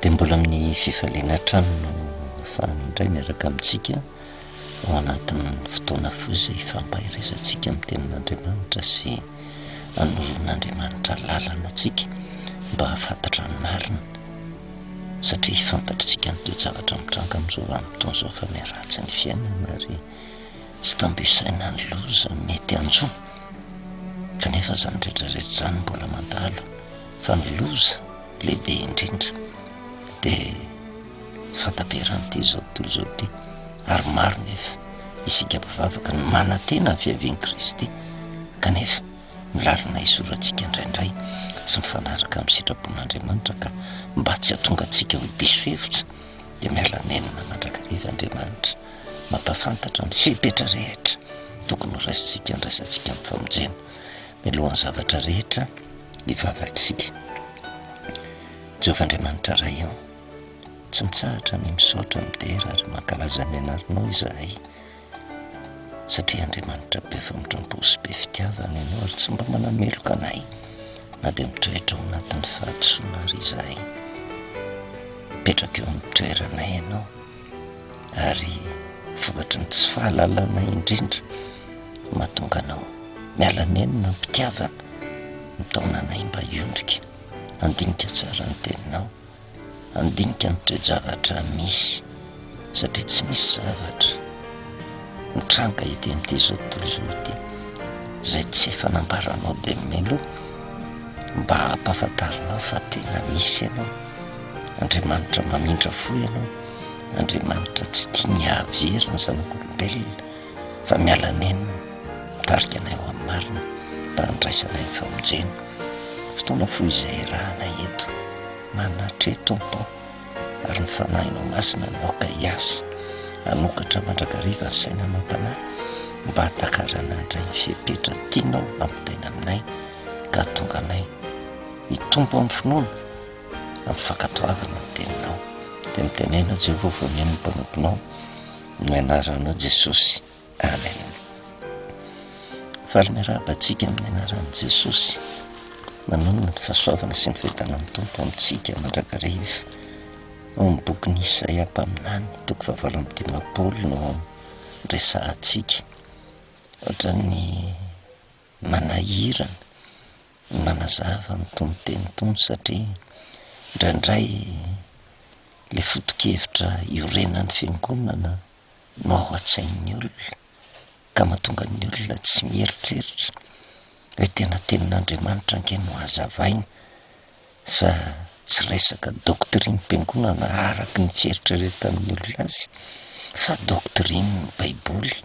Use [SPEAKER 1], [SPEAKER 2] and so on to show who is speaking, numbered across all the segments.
[SPEAKER 1] Dia mbola amin'ny fifaliana hatrany no afahany indray miaraka amintsika ao anatin'ny fotoana fohy izay ifampaherezantsika amin'ny tenin'Andriamanitra sy anoroan'Andriamanitra lalana antsika mba hahafantatra ny marina satria fantatritsika ny toe-javatra mitranga amin'izao vanim-potoana izao fa miharatsy ny fiainana ary Tsy tambo isaina ny loza mety hanjo, kanefa izany rehetra rehetra izany mbola mandalo, fa ny loza lehibe indrindra dia fahataperan'ity izao tontolo izao ity, ary maro nefa isika mpivavaka no manantena ny fiavian'i Kristy, kanefa ny lalana hizorantsika indraindray tsy mifanaraka amin'ny sitrapon'Andriamanitra, ka mba tsy hahatonga antsika ho diso hevitra dia miala nenina mandrakariva Andriamanitra. mampahafantatra ny fepetra rehetra tokony ho raisintsika handraisantsika amin'ny famonjena mialohan'ny zavatra rehetra ny vavantsika. Jehovah Andriamanitra Ray ô, tsy mitsahatra ny misaotra, midera ary mankalaza ny anaranao izahay, satria Andriamanitra be famindram-po sy be fitiavana ianao ary tsy mba manameloka anay na dia mitoetra ao anatin'ny fahadisoana ary izahay. Mipetraka eo amin'ny toeranay ianao. ary vokatry ny tsy fahalalana indrindra mahatonga anao miala nenina am-pitiavana, mitaona anay mba hiondrika, handinika tsara ny teninao, handinika ny toe-javatra misy satria tsy misy zavatra mitranga ety amin'ity zao tontolo izao ity izay tsy efa nambaranao dia mialoha mba hampahafantarinao fa tena misy ianao. Andriamanitra mamindra fo ianao, Andriamanitra tsy tia ny hahavery ny zanak'olombelona fa miala nenina, mitarika anay ho amin'ny marina mba handraisana anay ny famonjena. Fotoana fohy izay iarahanay eto, manatreha Tompo aho ary ny Fanahinao Masina no aoka hiasa hanokatra mandrakariva ny saina amam-panahy mba hahatakarana handray ny fepetra tianao hampitaina aminay ka hahatonga anay hitombo amin'ny finoana amin'ny fankatoavana ny teninao, dia mitenena Jehovah vao mino ny mpanomponao ny anaranao Jesosy. Amen. Faly miarahaba antsika amin'ny anaran'i Jesosy. Manonona ny fahasoavana sy ny fiadanan'ny Tompo amintsika mandrakariva. Ao amin'ny bokin'i Isaia mpaminany, toko fahavalo amby dimampolo no resahantsika. Ohatran'ny manahirana ny manazava ny tonon-teny tony satria indraindray le foto-kevitra iorenan'ny fiangonana no ao an-tsain'ny olona ka mahatonga ny olona tsy mieritreritra hoe tena tenin'Andriamanitra ange no hazavaina Fa tsy resaka doctrine-piangonana araky ny fieritreretan'ny olona azy fa doctrine baiboly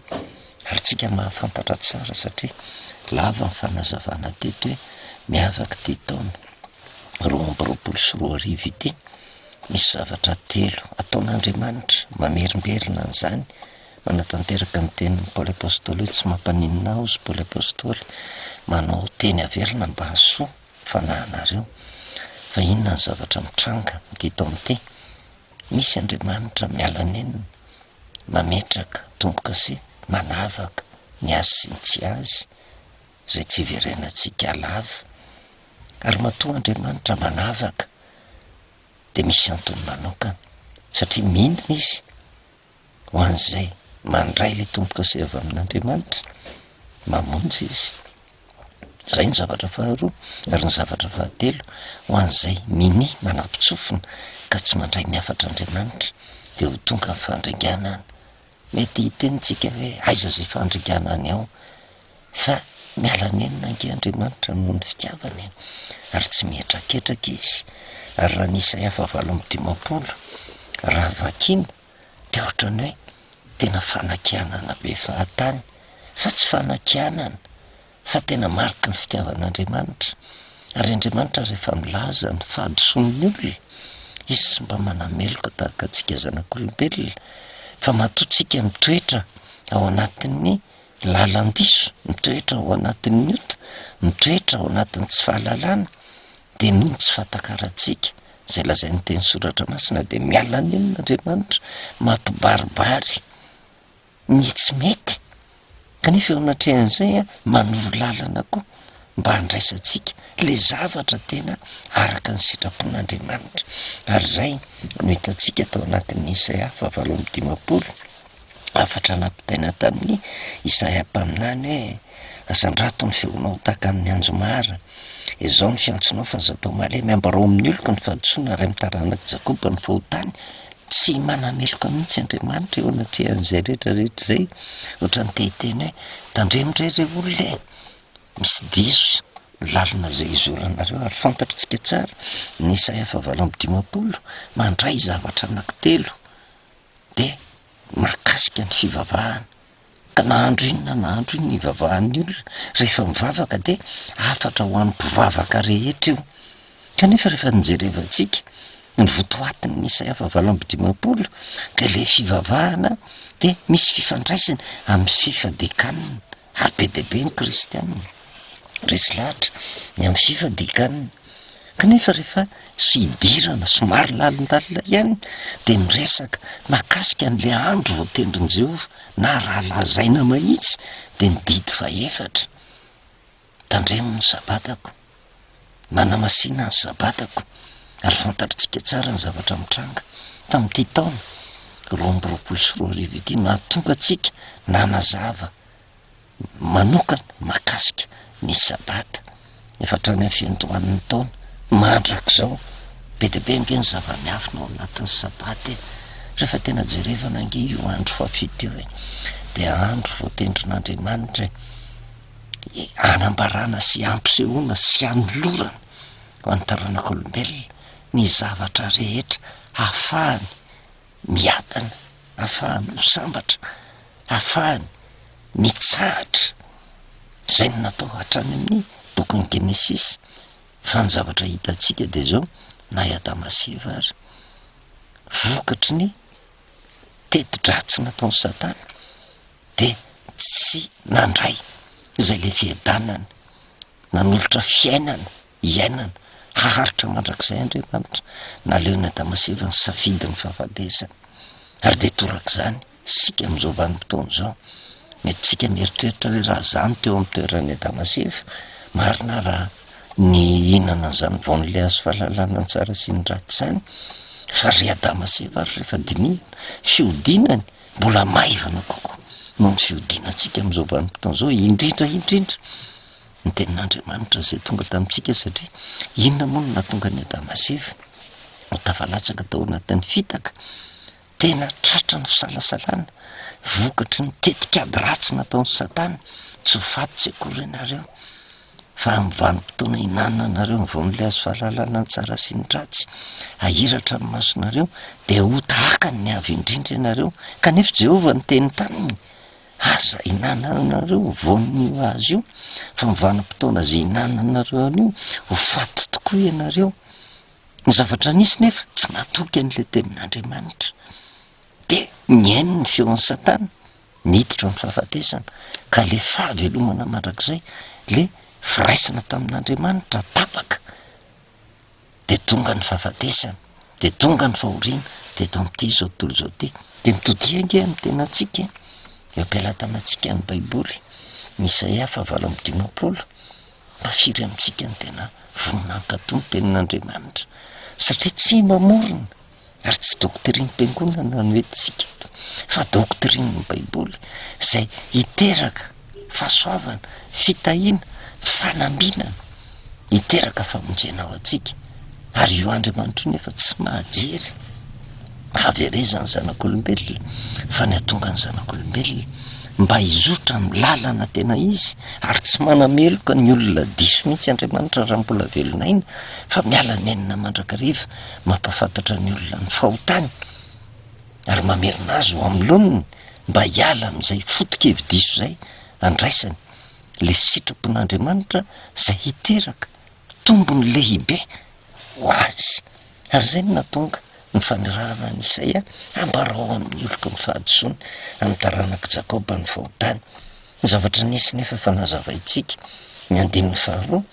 [SPEAKER 1] ary tsika mahafantatra tsara satria lava ny fanazavana teto hoe miavaka ity taona roa amby roapolo sy roa arivo ity misy zavatra telo ataon'Andriamanitra mamerimberina an'izany manatanteraka ny tenin'i Paoly Apostoly hoe tsy mampaninona aho izy Paoly Apostoly manao teny averina mba hahasoa fanahinareo. Fa inona ny zavatra mitranga aty Dante? Misy Andriamanitra miala nenina, mametraka tombokase, manavaka ny azy sy ny tsy azy, izay tsy iverenantsika lava. Ary matoa Andriamanitra manavaka dia misy antony manokana, satria minina izy. Ho an'izay mandray ilay tombo-kase avy amin'Andriamanitra, mamonjy Izy. Izay ny zavatra faharoa. Ary ny zavatra fahatelo, ho an'izay minia manapitsofina ka tsy mandray ny hafatr'Andriamanitra, dia ho tonga ny fandringana any. Mety hiteny tsika hoe, aiza izay fandringana any ao? fa miala nenina ange Andriamanitra noho ny fitiavany e! ary tsy mihetraketraka Izy, ary raha ny Isaia fahavalo amby dimampolo raha vakina dia ohatran'ny hoe tena fanakianana be fahatany, fa tsy fanakianana fa tena mariky ny fitiavan'Andriamanitra, ary Andriamanitra rehefa milaza ny fahadisoan'ny olona, Izy tsy mba manameloka tahaka antsika zanak'olombelona, fa matoa tsika mitoetra ao anatin'ny lalan-diso mitoetra ao anatin'ny ota, mitoetra ao anatin'ny tsy fahalalana, dia noho ny tsy fahatakarantsika izay lazain'ny teny soratra masina dia miala nenina Andriamanitra, mampibaribary ny tsy mety, kanefa eo anatrehan'izay manoro lalana koa mba handraisantsika le zavatra tena araka ny sitrapon'Andriamanitra, ary izay no hitantsika tao anatin'ny Isaia fahavalo amby dimampolo. hafatra nampitaina tamin'i Isaia mpaminany hoe, Asandrato ny feonao tahaka amin'ny anjo mara, ezao ny fiantsonao fa aza atao malemy, ambarao amin'ny oloko ny fahadisoana ary amin'ny taranak'i Jakoba ny fahotany. Tsy manameloka mihitsy Andriamanitra eo anatrehan'izay rehetrarehetra izay, ohatran'ny te hiteny hoe, Tandremo re ireo olona e! Misy diso ny lalana izay izoranareo ary fantatritsika tsara, ny Isaia fahavalo amby dimampolo, mandray zavatra anankitelo. de mahakasika ny fivavahana, ka na andro inona na andro inona ivavahan'ny olona rehefa mivavaka de hafatra ho an'ny mpivavaka rehetra io, kanefa rehefa ny jerevantsika ny votoatin'ny isaia fahavalo amby dimampolo de le fivavahana de misy fifandraisany amin'ny fifadikanana. Ary be dia be ny kristiana resy lahatra ny amin'ny fy fadikanina, kanefa rehefa tsy hidirana somary lalindalina ihany dia miresaka mahakasika an'ilay andro voatendrin'i Jehovah, na raha lazaina mahitsy dia ny didy fahefatra, Tandremo ny Sabatako. manamasina ny Sabatako, ary fantatritsika tsara ny zavatra nitranga tamin'ity taona roa amby roapolo sy roa arivo ity, nahatonga antsika nanazava manokana mahakasika ny Sabata, efa hatrany amin'ny fiandohan'ny taona. Mandrak'izao, be dia be ange ny zava-miafina ao anatin'ny Sabata e! Rehefa tena jerevana ange io andro fahafito io e, dia andro voatendrin'Andriamanitra e! hanambarana sy hampisehoana sy hanolorana ho an'ny taranak'olombelona ny zavatra rehetra hahafahany miadana, hahafahany ho sambatra, hahafahany mitsahatra. Izay no natao hatrany amin'ny bokin'ny Genesisy, fa ny zavatra hitantsika dia izao, na i Adama sy Eva ary, vokatry ny teti-dratsy nataon'i Satana, dia tsy nandray izay le fiadanana nanolotra fiainana hiainana haharitra mandrakizay Andriamanitra, naleony Adamaseva nisafidy ny fahavadesana, ary dia torak'izany isika amin'izao vanim-potoana izao, mety tsika mieritreritra hoe raha za no teo amin'ny toeran'i Adamaseva, marina raha nihinana an'izany voan'ilay hazo fahalalana ny tsara sy ny ratsy izany, fa ry Adamaseva ary rehefa dinihina fihodinany, mbola maivana kokoa noho ny fihodinantsika amin'izao vanim-potoana izao, indrindra indrindra ny tenin'Andriamanitra izay tonga tamintsika satria inona moa no nahatonga an'i Adama sy Eva ho tafalatsaka tao anatin'ny fitaka? Tena tratran'ny fisalasalana vokatry ny tetik'ady ratsy nataon'i Satana, tsy ho faty tsy akory ianareo. fa amin'ny vanim-potoana ihinananareo ny voan'ilay hazo fahalalana ny tsara sy ny ratsy hahiratra ny masonareo, dia ho tahaka ny avy indrindra ianareo, kanefa i Jehovah niteny taminy, Aza ihinananareo ny voan'io hazo io, fa amin'ny vanim-potoana izay ihinananareo an'io, ho faty tokoa ianareo. Ny zavatra nisy nefa tsy natoky an'ilay tenin'Andriamanitra, dia nihaino ny feon'i Satana. Niditra ny fahafatesana, ka le fahavelomana mandrakizay, le firaisana tamin'Andriamanitra tapaka, de tonga ny fahafatesana, de tonga ny fahoriana, de eto amin'ity izao tontolo izao ity. De mitodiha ange amin'ny tenantsika e, eo am-pelatanantsika ny baiboly, ny Isaia fahavalo amby dimampolo, mba firy amintsika no tena vonona hankato ny tenin'Andriamanitra, satria tsy mamorona. ary tsy doctrine-piangonana no entintsika eto fa doctrine-ny baiboly zay hiteraka fahasoavana, fitahiana, fanambinana, hiteraka famonjena ho antsika, ary io Andriamanitra io nefa tsy mahajery haverezan'ny zanak'olombelona fa ny hatongan'ny zanak'olombelona mba hizotra amin'ny lalana tena izy, ary tsy manameloka ny olona diso mihitsy Andriamanitra raha mbola velon'aina fa miala nenina mandrakariva. mampahafantatra ny olona ny fahotany ary mamerina azy ho amin'ny laoniny mba hiala amin'izay foto-kevi-diso izay andraisany, ilay sitrapon'Andriamanitra izay hiteraka tombony lehibe ho azy. Ary izay no nahatonga ny fanirahana an'i Isaia, Ambarao amin'ny oloko ny fahadisoany, amin'ny taranak'i Jakoba ny fahotany. Ny zavatra nisy nefa efa nazavaintsika, ny andininy faharoa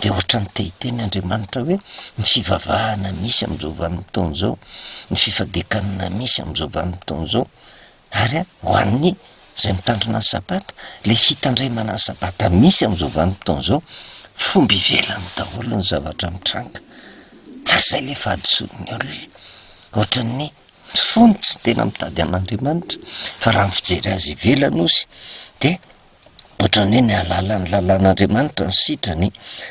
[SPEAKER 1] dia ohatran'ny te hiteny Andriamanitra hoe, ny fivavahana misy amin'izao vanim-potoana izao, ny fifadekanana misy amin'izao vanim-potoana izao, ary ho an'ny izay mitandrina ny sabata, ilay fitandremana ny sabata misy amin'izao vanim-potoana izao, fomba ivelany daholo ny zavatra mitranga, ary izay ilay fahadisoan'ny olona, ohatran'ny. Ny fo no tsy tena mitady an'Andriamanitra, fa raha ny fijery azy ivelany ozy de ohatran'ny hoe ny hahalala ny lalan'Andriamanitra no sitrany,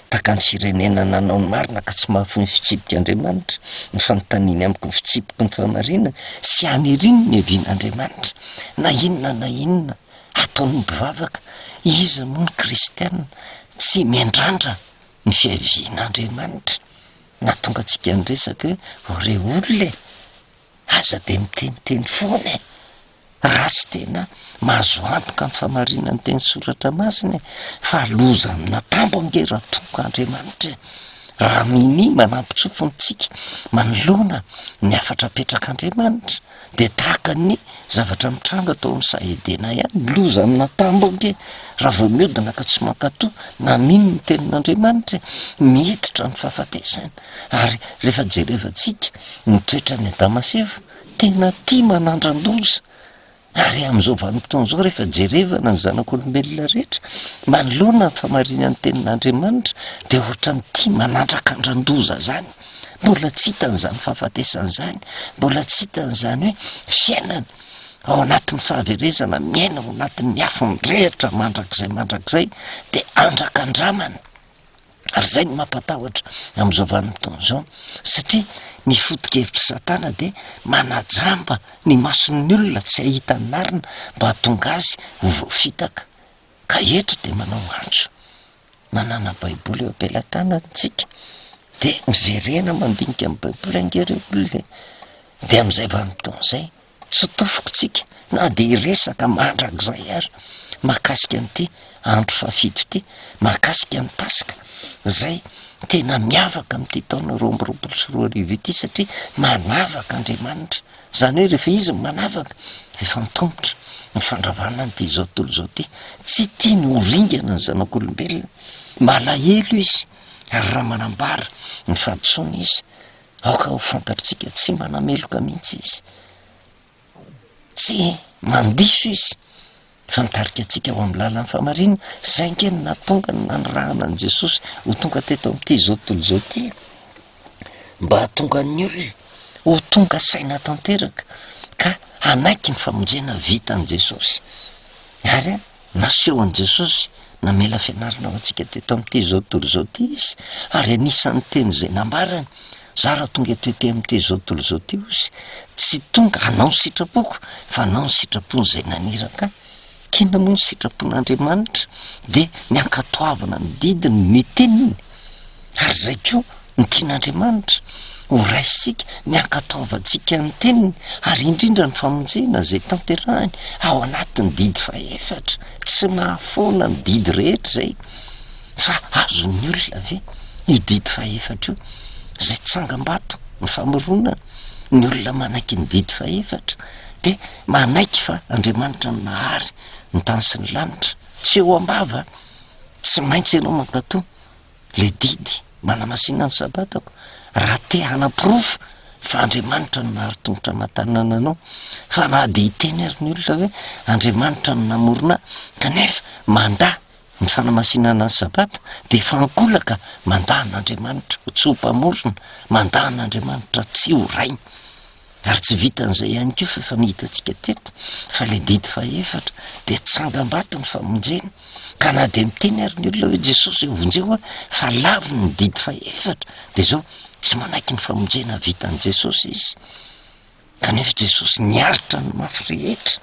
[SPEAKER 1] tahaka ny firenena nanao ny marina ka tsy mahafoy ny fitsipik'Andriamanitra, ny fanontaniany amiko ny fitsipiky ny fahamarinana, sy aniriany ny hevian'Andriamanitra, na inona na inona ataon'ny mpivavaka, iza moa ny kristiana tsy miandrandra Ny fiavian'Andriamanitra nahatonga antsika niresaka hoe re olona e! Aza dia miteniteny foana e! Raha tsy tena mahazo antoka amin'ny famarinan'ny teny soratra masina e! Fa loza amina tambo ange raha tompoko Andriamanitra e! Raha minia manampy tsofiny tsika manoloana ny hafatra apetrak'Andriamanitra, dia tahaka ny zavatra mitranga tao amin'ny saha Edena ihany, ny loza amina tambo ange raha vao miodina ka tsy mankatò na mino ny tenin'Andriamanitra e, miditra ny fahafatesana. Ary rehefa jerevantsika ny toetran'i Adama sy Eva, tena tia manandra-doza, ary amin'izao vanim-potoana izao rehefa jerevana ny zanak'olombelona rehetra manoloana ny famarinan'ny tenin'Andriamanitra dia ohatran'ny tia manandrakandran-doza zany. Mbola tsy hitany izany fahafatesana izany, mbola tsy hitany izany hoe fiainana ao anatin'ny fahaverezana, miaina ao anatin'ny afo mirehitra mandrakizay mandrakizay de andrakandramana, ary zay no mampatahotra amin'izao vanim-potoana izao satria ny foto-kevitr'i satana de manajamba ny mason'ny olona tsy hahita ny marina mba hahatonga azy ho voafitaka, ka eto de manao antso. manana baiboly eo am-pelatanantsika de miverena mandinika ny baiboly ange reo olona e, de am'izay vanim-potoana zay tsy tofokintsika na de hiresaka mandrakizay ary mahakasika an'ity andro fahafito ity, mahakasika ny paska zay tena miavaka am'ity taona roa amby roapolo sy roa arivo ity satria manavaka Andriamanitra. Izany hoe rehefa izy no manavaka, rehefa antomotra ny fandravana ny dia izao tontolo izao ity, tsy tiany ho ringana ny zanak'olombelona, malahelo izy, ary raha manambara ny fahadisoany izy, aoka ho fantatritsika, tsy manameloka mihitsy izy, tsy mandiso izy. fa mitarika antsika ho amin'ny lalan'ny fahamarinana, izay ange no nahatonga ny nanirahana an'i Jesosy ho tonga teto amin'ity izao tontolo izao ity e! Mba hahatonga ny olona ho tonga saina tanteraka ka hanaiky ny famonjena vitan'i Jesosy ary naseho an'i Jesosy. Namela fianarana ho antsika teto amin'ity izao tontolo izao ity Izy, ary anisan'ny teny izay nambarany, Za raha tonga eto ety amin'ity izao tontolo izao ity Ozy, tsy tonga hanao ny sitrapoko, fa hanao ny sitrapon'izay naniraka Ahy. K'inona moa ny sitrapon'Andriamanitra? Dia ny hankatoavana ny didiny, ny teniny, ary izay koa. Ny tian'Andriamanitra ho raisintsika, ny hankatoavantsika ny Teniny, ary indrindra ny famonjena izay tanterahiny ao anatin'ny didy fahefatra. Tsy mahafoana ny didy rehetra izay, fa azon'ny olona ve io didy fahefatra io, izay tsangambato, ny famoronana? Ny olona manaiky ny didy fahefatra dia manaiky fa Andriamanitra no nahary ny tany sy ny lanitra. Tsy eo am-bava, tsy maintsy ianao mankatò. Ilay didy manamasina ny Sabatako, raha te hanaporofo fa Andriamanitra no naharo tongotra aman-tanana anao, fa na dia hiteny ary ny olona hoe Andriamanitra no namorona ahy, kanefa mandà ny fanamasinana ny Sabata, dia efa ankolaka, mandà an'Andriamanitra ho tsy ho mpamorona, mandà an'Andriamanitra tsy ho Rainy. Ary tsy vitan'izay ihany koa fa efa nohitantsika teto fa ilay didy fahefatra dia tsangambato ny famonjena ka na dia miteny ary ny olona hoe Jesosy eo vonjeo aho fa laviny ny didy fahefatra dia zao tsy manaiky ny famonjena vitan'i Jesosy izy kanefa Jesosy niaritra ny mafy rehetra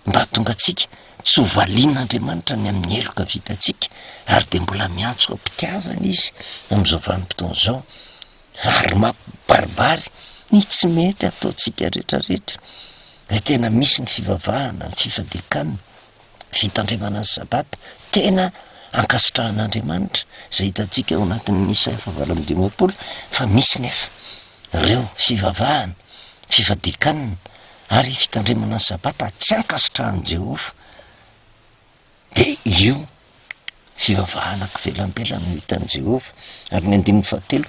[SPEAKER 1] mba hatonga antsika tsy ho valian'Andriamanitra ny amin'ny heloka vitantsika ary dia mbola miantso am-pitiavana izy amin'izao vanim-potoana izao ary mampibaribary ny tsy mety ataontsika retraretra, ny tena misy ny fivavahana, ny fifadiakana, fitandremana ny sabata, tena ankasitrahan'Andriamanitra zay hitantsika ao anatin'ny Isaia fahavalo amby dimampolo fa misy nefa reo fivavahana, fifadiakana ary fitandremana ny sabata tsy ankasitrahan'i Jehovah. Dia io fivavahana an-kivelambelan'ny no hitan'i Jehovah. Ary ny andininy fahatelo,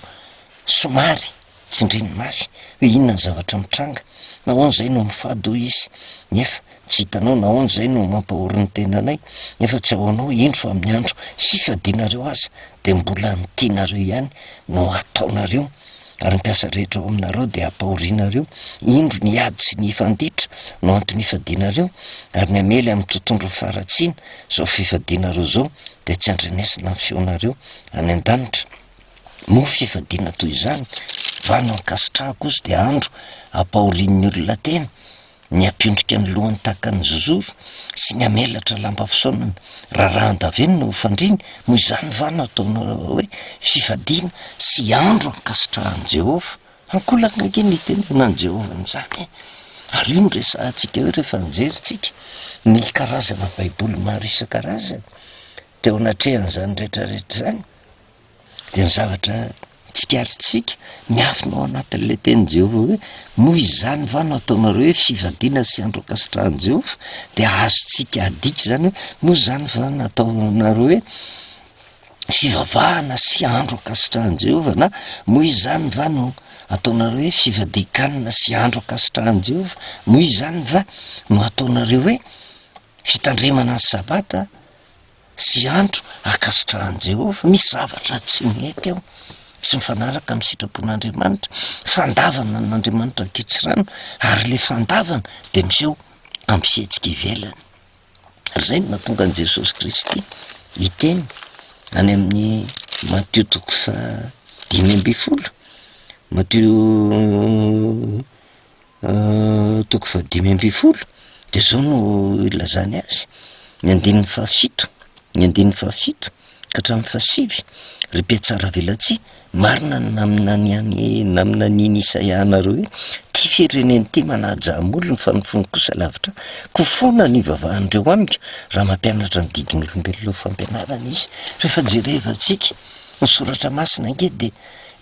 [SPEAKER 1] somary tsindriny mafy hoe inona ny zavatra mitranga, Nahoana izay no mifady, hoy izy, nefa tsy hitanao? Nahoana izay no mampahory ny tenanay, nefa tsy ahoanao? Indro fa amin'ny andro hifadianareo aza, dia mbola ny tianareo ihany no hataonareo. ary ny mpiasa rehetra ao aminareo dia hampahorinareo, indro ny ady sy ny hifanditra no antony hifadianareo, ary ny hamely amin'ny tontondro ho faharatsiana izao fifadianareo izao dia tsy handrenesina ny feonareo any an-danitra. Moa fifadiana toy izany va no ankasitrahako ozy dia andro hampahorian'ny olona tena? ny hampendrika ny lohany tahaka ny zozoro sy ny hamelatra lamba fisaonana rarahan-davenona ho fandriany, moa izany va no ataonao hoe fifadiana sy andro hankasitrahan'i Jehovah? Ankolaka ange ny hitenenana an'i Jehovah an'izany e! Ary io no resahantsika eo rehefa nijerintsika ny karazana Baiboly maro isan-karazany teo anatrehan'izany rehetrarehetra izany. dia ny zavatra tsikaritrisika miafina ao anatin'ilay tenin'i Jehovah hoe, Noho izany va no ataonareo hoe fivadiana sy andro ankasitrahan'i Jehovah? Dia azontsika adika izany hoe, Noho izany va no ataonareo hoe fivavahana sy andro ankasitrahan'i Jehovah? na Noho izany va no ataonareo hoe fivadian-kanina sy andro ankasitrahan'i Jehovah? Noho izany va no ataonareo hoe fitandremana ny Sabata? sy andro hankasitrahan'i Jehovah. Misy zavatra tsy nety ao, tsy mifanaraka amin'ny sitrapon'Andriamanitra. Fandavana an'Andriamanitra ny kitsirano, ary ilay fandavana dia miseho amin'ny fihetsika ivelany. Izay no nahatonga an'i Jesosy Kristy hiteny any amin'ny Matio toko fahadimy ambin'ny folo, Matio toko fahadimy ambin'ny folo de zao no ilazany azy, ny andininy fahafito, ny andininy fahafito ka hatramin'ny fahasivy, ry mpihatsaravelatsihy, marina ny naminany an'i- naminany an'i Isaia anareo hoe, ty firenena ty manaja amolony fa ny fony kosa lavitra ahy, koa foana no ivavahan'ireo amiko raha mampianatra ny didin'olombelona ho fampianarana izy. Rehefa jerevantsika ny soratra masina ange de.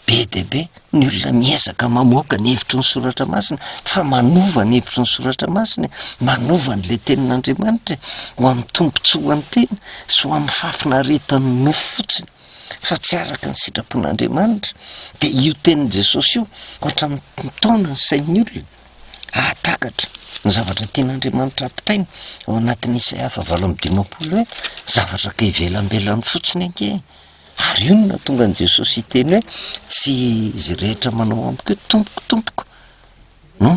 [SPEAKER 1] Be dia be ny olona miezaka mamoaka ny hevitry ny Soratra Masina fa manova ny hevitry ny Soratra Masina e! Manova an'ilay Tenin'Andriamanitra e! Ho amin'ny tombontsoa ho an'ny tena sy ho amin'ny fahafinaretan'ny nofo fotsiny fa tsy araka ny sitrapon'Andriamanitra. Dia io Tenin'i Jesosy io ohatra mitaona ny sain'ny olona hahatakatra ny zavatra tian'Andriamanitra hampitaina ao anatin'ny Isaia fahavalo amby dimampolo hoe, zavatra ka ivelambelany fotsiny ange e! Ary io no nahatonga an'i Jesosy hiteny hoe, tsy izy rehetra manao amiko hoe, Tompoko, Tompoko, no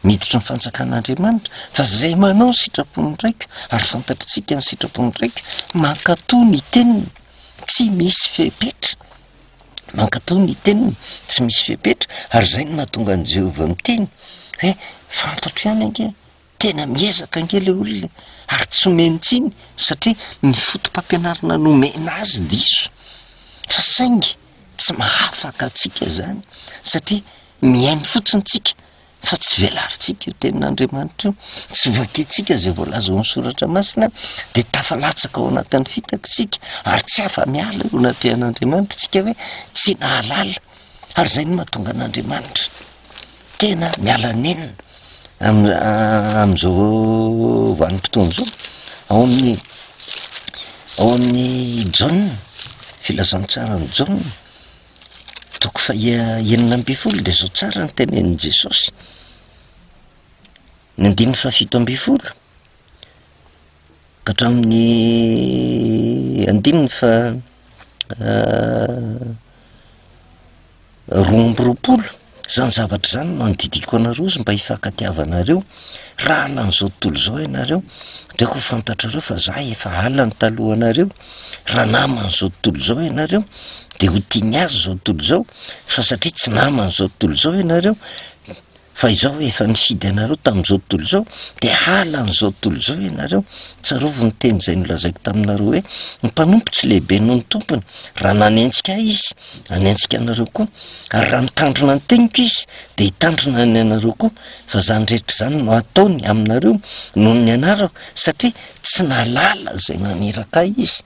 [SPEAKER 1] miditra ny fanjakan'Andriamanitra, fa izay manao ny sitrapon'ny Raiko, ary fantatritsika ny sitrapon'ny Raiko, mankatò ny teniny, tsy misy fepetra, mankatò ny teniny, tsy misy fepetra, ary izay no nahatonga an'i Jehovah miteny hoe, Fantatro ihany ange. Tena miezaka ange le olona e! ary tsy omeny tsiny satria ny fotopampianarana nomena azy diso fa saingy tsy mahafaka antsika izany satria mihaino fotsiny tsika fa tsy velarintsika io tenin'Andriamanitra io, tsy vakintsika izay voalaza ao amin'ny soratra masina dia tafalatsaka ao anatin'ny fitaka isika ary tsy afa-miala eo anatrehan'Andriamanitra tsika hoe tsy nahalala ary izay no mahatonga an'Andriamanitra tena miala nenina am- am'zao vanim-potoana zao ao amin'ny ao amin'ny jaona, filazantsaran'i jaona toko faha- enina ambin'ny folo de zao tsara no tenenin'i jesosy, ny andininy fahafito ambin'ny folo. hatramin'ny andininy faha roa amby roapolo, zany zavatra zany no andidiako anareo izy mba hifankatiavanareo, raha halan'izao tontolo izao ianareo de ho fantatrareo fa za efa halany talohanareo, raha naman'izao tontolo izao ianareo de ho tia ny azy zao tontolo izao fa satria tsy naman'izao tontolo izao ianareo, Fa izao efa mihidy anareo tamin'izao tontolo izao, dia halan'izao tontolo izao ianareo. Tsarovy ny teny izay nolazaiko taminareo hoe, Ny mpanompo tsy lehibe noho ny tompony. Raha nanenjika ahy izy, hanenjika anareo koa. Ary raha nitandrina ny teniko izy, dia hitandrina ny anareo koa. Fa izany rehetra izany no hataony aminareo noho ny anarako, satria tsy nahalala izay naniraka ahy izy.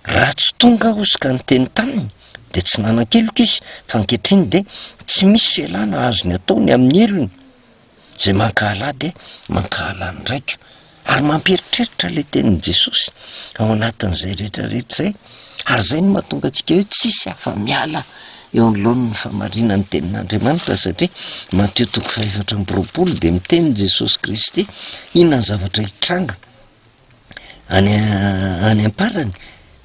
[SPEAKER 1] Raha tsy tonga aho izy ka niteny taminy dia tsy nanan-keloka izy, fa ankehitriny dia tsy misy fialana azony atao ny amin'ny helony. Izay mankahala ahy dia mankahala ny Raiko. Ary mampieritreritra ilay tenin'i Jesosy ao anatin'izay rehetrarehetra izay, ary izay no mahatonga antsika hoe tsisy afa-miala eo anoloan'ny fahamarinan'ny tenin'Andriamanitra, satria Matio toko fahefatra amby roapolo dia miteny Jesosy Kristy inona ny zavatra hitranga. Any any am-parany,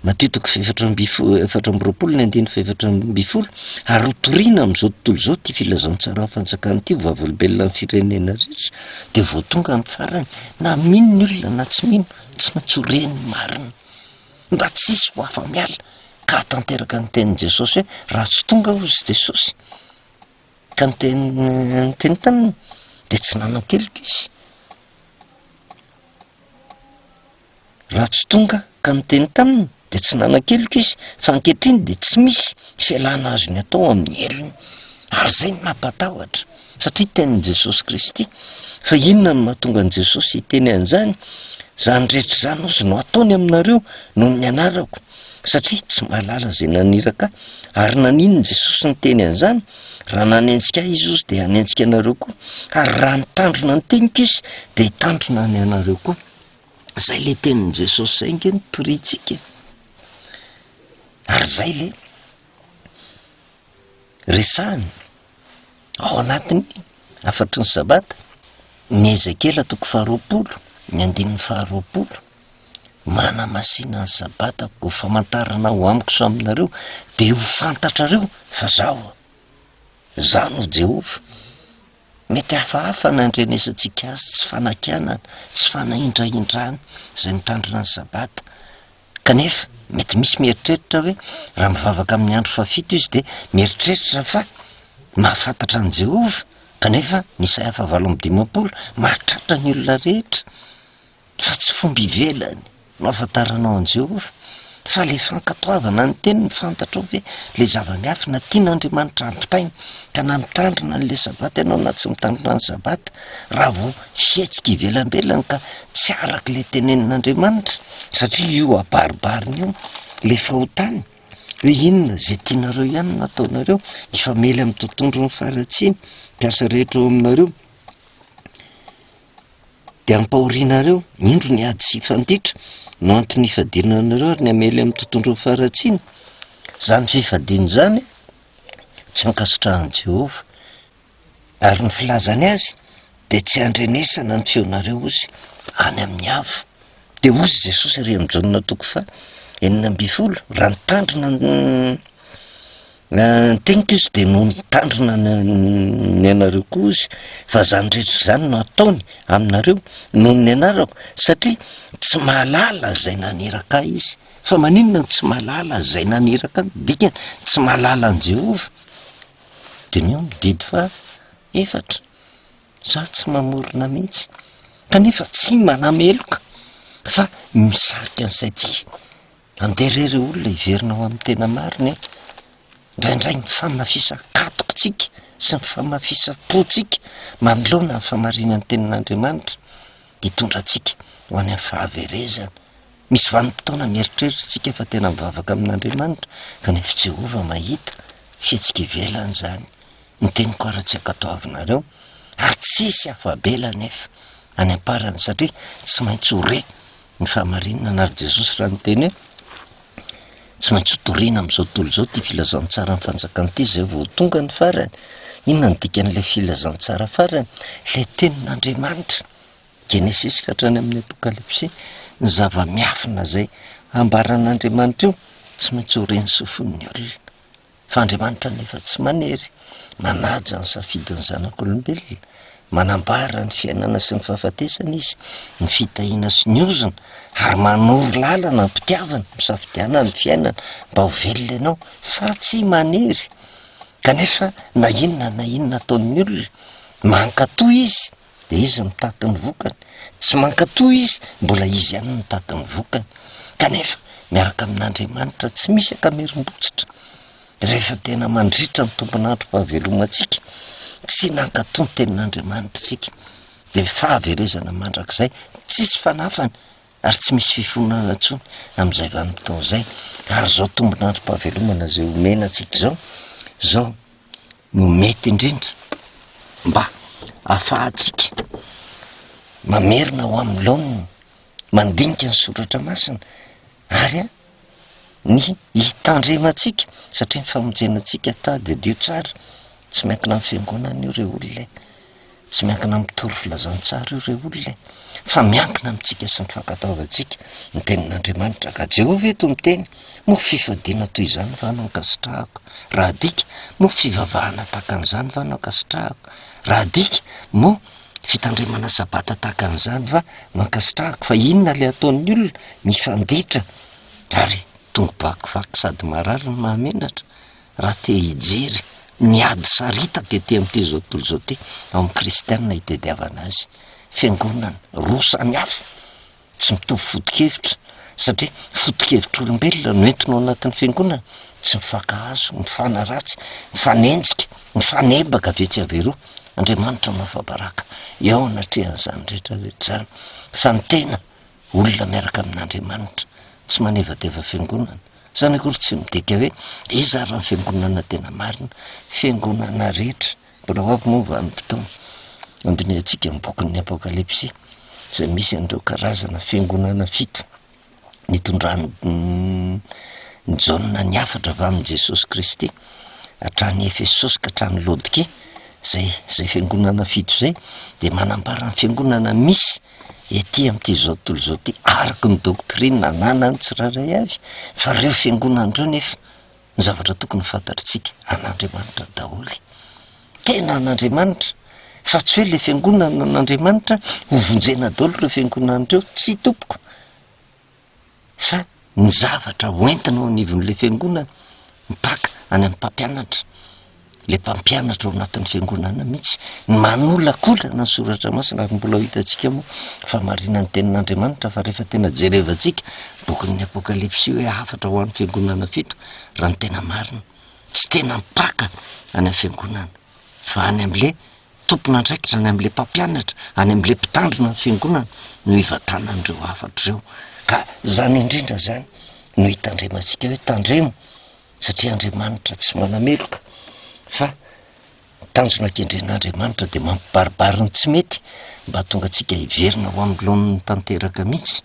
[SPEAKER 1] matoa toko fahefatra amby fo- efatra amby roapolo ny andininy fahefatra amby folo, ary ho toriana amin'izao tontolo izao ity filazantsaran'ny fanjakana ity ho vavolombelonan'ny firenena rehetra, de vao tonga amin'ny farany, na mino ny olona na tsy mino, tsy maintsy ho re ny marina, mba tsy hisy ho afa-miala, ka hahatanteraka ny tenin'i Jesosy hoe, raha tsy tonga aho hoy Jesosy, Ka niteny niteny taminy dia tsy nanan-keloka izy. Raha tsy tonga ka niteny taminy dia tsy nanan-keloka izy, fa ankehitriny dia tsy misy fialana azony atao amin'ny helony. Ary izay no mampatahotra, satria tenin'i Jesosy Kristy. Fa inona no mahatonga an'i Jesosy hiteny an'izany? Izany rehetra izany hozy no ataony aminareo noho ny anarako. satria tsy mahalala izay naniraka ahy. Ary naninona Jesosy niteny an'izany? Raha nanenjika ahy Jesosy dia hanenjika anareo koa, ary raha nitandrina ny teniko Izy dia hitandrina ny anareo koa. Izay le tenin'i Jesosy izay ange no toriantsika e! Ary izay le resahiny ao anatin'ny hafatry ny sabata, ny Ezekiela toko faharoapolo, ny andininy faharoapolo. manamasina ny sabatako, ho famantarana ho amiko sy aminareo, dia ho fantatrareo fa zaho aho. Zaho no Jehovah. Mety hafahafa ny andrenesantsika azy, tsy fanakianana, tsy fanahindrahindrana izay mitandrina ny sabata, kanefa mety misy mieritreritra hoe raha mivavaka amin'ny andro fahafito izy dia mieritreritra fa mahafantatra an'i Jehovah, kanefa ny Isaia fahavalo amby dimampolo mahatratra ny olona rehetra. Fa tsy fomba ivelany no ahafantaranao an'i Jehovah, fa ilay fankatoavana ny Teniny, fantatrao ve ilay zava-miafina tian'Andriamanitra hampitaina, ka na mitandrina an'ilay Sabata ianao na tsy mitandrina ny Sabata, raha vao hihetsika ivelambelany ka tsy araka ilay tenenin'Andriamanitra, satria io abaribariny io ilay fahotana, hoe inona izay tianareo ihany no ataonareo, hifamely amin'ny tontondron'ny faharatsiany, mpiasa rehetra ao aminareo. dia ampahorianareo, indro ny ady sy fandritra no antony hifadiana anareo ary ny hamely amin'ny tontondron'ny faharatsiana. Izany fifadiana izany tsy ankasitrahan'i Jehovah, ary ny filazany azy dia tsy handrenesana ny feonareo hozy any amin'ny avo. Dia hozy Jesosy ary amin'i Jaona toko faha enina ambin'ny folo, raha mitandrina ny. Ny teniko izy dia noho nitandrina ny anareo koa izy fa izany rehetra izany no ataony aminareo noho ny anarako satria tsy mahalala izay naniraka ahy izy. Fa maninona no tsy mahalala izay naniraka ahy? Dikany tsy mahalala an'i Jehovah. Diniho ny didy fahaefatra, Izaho tsy mamorona mihitsy, kanefa tsy manameloka fa misarika ny saintsika. Andeha re ireo olona hiverina ho amin'ny tena marina e! Indraindray ny famafisan-katokintsika sy ny famafisam-pontsika manoloana ny famarinan'ny Tenin'Andriamanitra hitondra antsika ho any amin'ny fahaverezana. Misy vanim-potoana mieritreritra isika fa tena mivavaka amin'Andriamanitra kanefa i Jehovah mahita fihetsika ivelany izany. Ny teniko ary tsy ankatoavinareo ary tsisy afa-bela anefa any am-parany satria tsy maintsy ho re. Ny fahamarinana na ry Jesosy raha niteny hoe tsy maintsy ho toriana amin'izao tontolo izao ity filazantsaran'ny fanjakana ity izay vao ho tonga ny farany. Inona no dikan'ilay filazantsara farany? Ilay tenin'Andriamanitra, Genesisy ka hatrany amin'ny Apokalypsy, ny zava-miafina izay ambaran'Andriamanitra io tsy maintsy ho ren'ny sofin'ny olona. Fa Andriamanitra anefa tsy manery manaja ny safidin'ny zanak'olombelona. Manambara ny fiainana sy ny fahafatesana Izy, ny fitahiana sy ny ozona, ary manoro lalana ny mpitiavany misafidiana ny fiainana mba ho velona ianao, fa tsy manery. Kanefa na inona na inona ataon'ny olona, mankatò Izy. de izy mitady ny vokany, tsy mankatò izy, mbola izy ihany no mitady ny vokany, kanefa miaraka amin'Andriamanitra tsy misy ankamerim-botsitra, rehefa tena mandritra ny tompon'androm-pahavelomantsika, tsy nankatò ny tenin'Andriamanitra isika, de fahaverezana mandrakizay tsisy fanafany ary tsy misy fifonana intsony amin'izay vanim-potoana izay, ary izao tombon'androm-pahavelomana izay omena antsika izao, izao no mety indrindra mba ahafahantsika mamerina ho amin'ny laoniny, mandinika ny soratra masina ary ny hitandremantsika satria ny famonjena antsika tady adio tsara tsy miankina amin'ny fiangonana io re olona e! tsy miankina amin'ny tory filazantsara io re olona e! fa miankina amintsika sy ny fankatoavantsika ny tenin'Andriamanitra ka Jehovah eto miteny moa fifadiana toy izany va no ankasitrahako? raha adika moa fivavahana tahaka an'izany va no ankasitrahako? Raha adika moa fitandremana sabata tahaka an'izany va? Mankasitrahako fa inona ilay ataon'ny olona? Mifanditra ary tongo bakivaky sady marary ny mahamenatra raha te hijery ny ady saritaka ety amin'ity zao tontolo izao ity. Ao amin'ny kristiana itediavana azy. Fiangonana roa samihafa. Tsy mitovy foto-kevitra satria foto-kevitr'olombelona no entina ao anatin'ny fiangonana, tsy mifankahazo, mifanaratsy, mifanenjika, mifanebaka avy etsy avy eroa. Andriamanitra mahafa-baraka eo anatrehan'izany rehetra rehetra izany fa ny tena olona miaraka amin'Andriamanitra tsy manevateva fiangonana. Izany akory tsy midika hoe iza ary ny fiangonana tena marina, fiangonana rehetra Mbola ho avy moa vanim-potoana handinihantsika ny bokin'ny Apokalypsy izay misy an'ireo karazana fiangonana fito nitondran'i Jaona ny hafatra avy amin'i Jesosy Kristy hatrany Efesosy ka hatrany Laodikia, izay izay fiangonana fito izay dia manambara ny fiangonana misy ety amin'ity zao tontolo izao ity araka ny doctrine ananan'ny tsirairay avy fa ireo fiangonana ireo nefa ny zavatra tokony ho fantatritsika an'Andriamanitra daholo. Tena an'Andriamanitra, fa tsy hoe le fiangonana an'Andriamanitra ho vonjena daholo ireo fiangonana ireo, tsia tompoko, fa ny zavatra ho entina ao anivon'le fiangonana, mipaka any amin'ny mpampianatra. ilay mpampianatra ao anatin'ny fiangonana mihitsy ny manolakolana ny soratra masina ary mbola ho hitantsika moa fa marina ny tenin'andriamanitra fa rehefa tena jerevantsika bokin'ny apokalipsy hoe hafatra ho an'ny fiangonana fito raha ny tena marina tsy tena mpaka any am fiangonana fa any am'le tompona andraikitra any am'le mpampianatra any am'le mpitandrina ny fiangonana no hivatanan'ireo hafatra ireo ka zany indrindra zany no hitandremantsika hoe tandremo satria Andriamanitra tsy manameloka fa ny tanjona kendren'Andriamanitra dia mampibaribary ny tsy mety mba hahatonga antsika hiverina ho amin'ny laoniny tanteraka mihitsy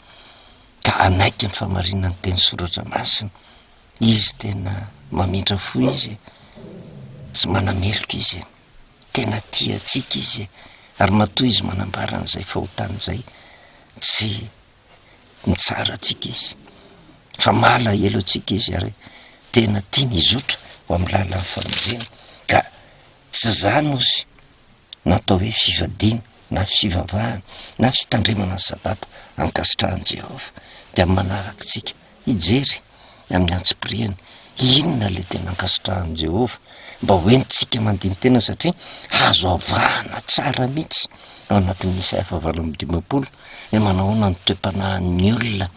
[SPEAKER 1] ka hanaiky ny fahamarinan'ny teny soratra masina izy tena mamindra fo izy e! tsy manameloka izy e! tena tia antsika izy e! ary matoa izy manambara an'izay fahotany izay tsy mitsara antsika izy, fa malahelo antsika izy ary tena tiany hizotra ho amin'ny lalan'ny famonjena ka tsy izany ozy no atao hoe fivadiana na fivavahana na fitandremana ny sabata ankasitrahan'i Jehovah dia amin'ny manarak'itsika hijery amin'ny antsipiriany inona ilay tena ankasitrahan'i Jehovah, mba hoentintsika mandini-tena satria azo avahana tsara mihitsy ao anatin'ny Isaia fahavalo amby dimampolo ny manahoana ny toe-panahin'ny olona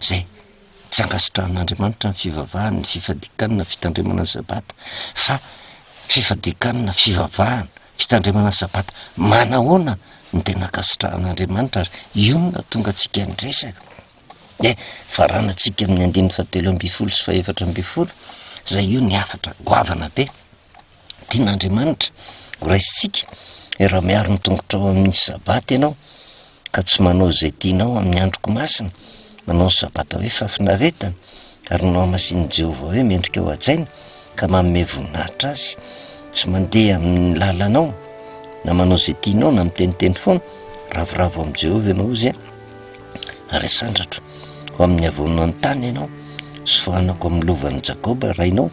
[SPEAKER 1] izay tsy ankasitrahan'Andriamanitra ny fivavahany, ny fifadikanana, fitandremana ny Sabata, fa fifadikanana, fivavahana, fitandremana ny Sabata. Manahoana no tena ankasitrahan'Andriamanitra ary inona no tonga antsika niresaka? Dia faranantsika amin'ny andininy fahatelo ambin'ny folo sy fahefatra ambin'ny folo, izay io ny hafatra goavana be. Tian'Andriamanitra ho raisintsika, hoe raha miaro ny tongotrao amin'ny sabata ianao, ka tsy manao izay tianao amin'ny androko masina, manao ny sabata hoe fahafinaretana, ary ny nohamasinin'i Jehovah hoe mendrika ho hajaina, ka manome voninahitra azy, tsy mandeha amin'ny lalanao, na manao izay tianao, na miteniteny foana, ravoravo amin'i Jehovah ianao, hozy an. ary asandratro ho amin'ny havoanan'ny tany ianao, sy foanako amin'ny lovan'i Jakoba rainao,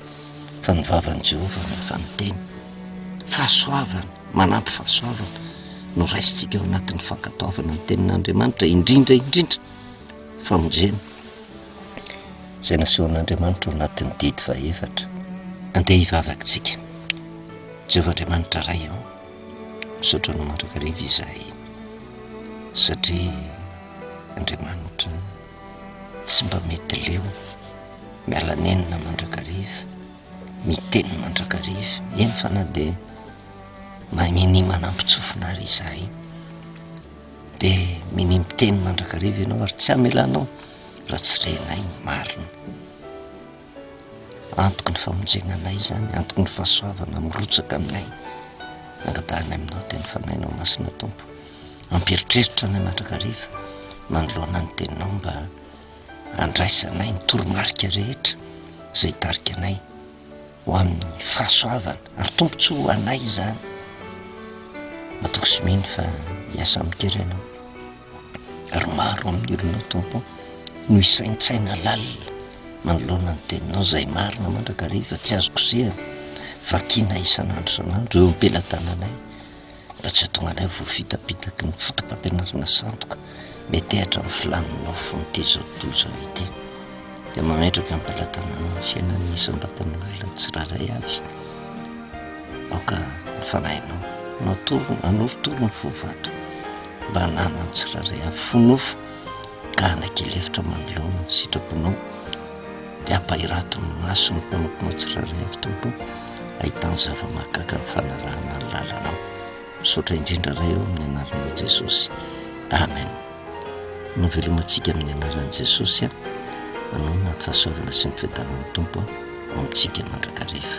[SPEAKER 1] fa ny vavan'i Jehovah no efa niteny. Fahasoavana, manampy fahasoavana no raisintsika ao anatin'ny fankatoavana ny Tenin'Andriamanitra, indrindra indrindra famonjena izay nasehon'Andriamanitra ao anatin'ny didy fahaefatra. Andeha hivavaka isika, Jehovah Andriamanitra Ray ô! Misaotra anao mandrakariva izahay, satria Andriamanitra tsy mba mety leo miala nenina mandrakariva, miteny mandrakariva, eny fa na dia mahay minia manambon-tsofina ary izahay, dia minia miteny mandrakariva ianao ary tsy hamelanao raha tsy renay ny marina. Antoky ny famonjena anay izany, antoky ny fahasoavana mirotsaka aminay. Angatahanay aminao teny fanahinao masina Tompo, mampieritreritra anay mandrakariva manoloana ny teninao mba handraisanay ny toromarika rehetra izay hitarika anay ho amin'ny fahasoavana ary tombontsoa ho anay izany. Matoky sy mino fa hiasa amin-kery ianao. ary maro amin'ironao Tompo no hisaintsaina lalina manoloana ny teninao izay marina mandrakariva tsy azo kosehina vakiana isan'andro isan'andro eo am-pelatananay mba tsy hahatonga anay voafitapitaky ny fotopampianarana sandoka metehatra amin'ny filàn'ny nofon'ity izao tontolo izao ity dia mametraka am-pelatananao ny fiainan'ny isam-batan'olona tsirairay avy aoka ny fanahinao natoro- nanorotoro ny fo vato Mba namany tsirairay avy fo nofo ka hanaiky lefitra manoloana ny sitraponao dia ampahirato ny maso ny mpanomponao tsirairay avy Tompo ahitany zava-mahagaga ny fanarahana ny lalanao. Misaotra indrindra Ray ô amin'ny anaranao Jesosy. Amen. Novelomantsika amin'ny anaran'i Jesosy a. Manohana ny fahasoavana sy ny fiadanan'ny Tompo ho amintsika mandrakariva.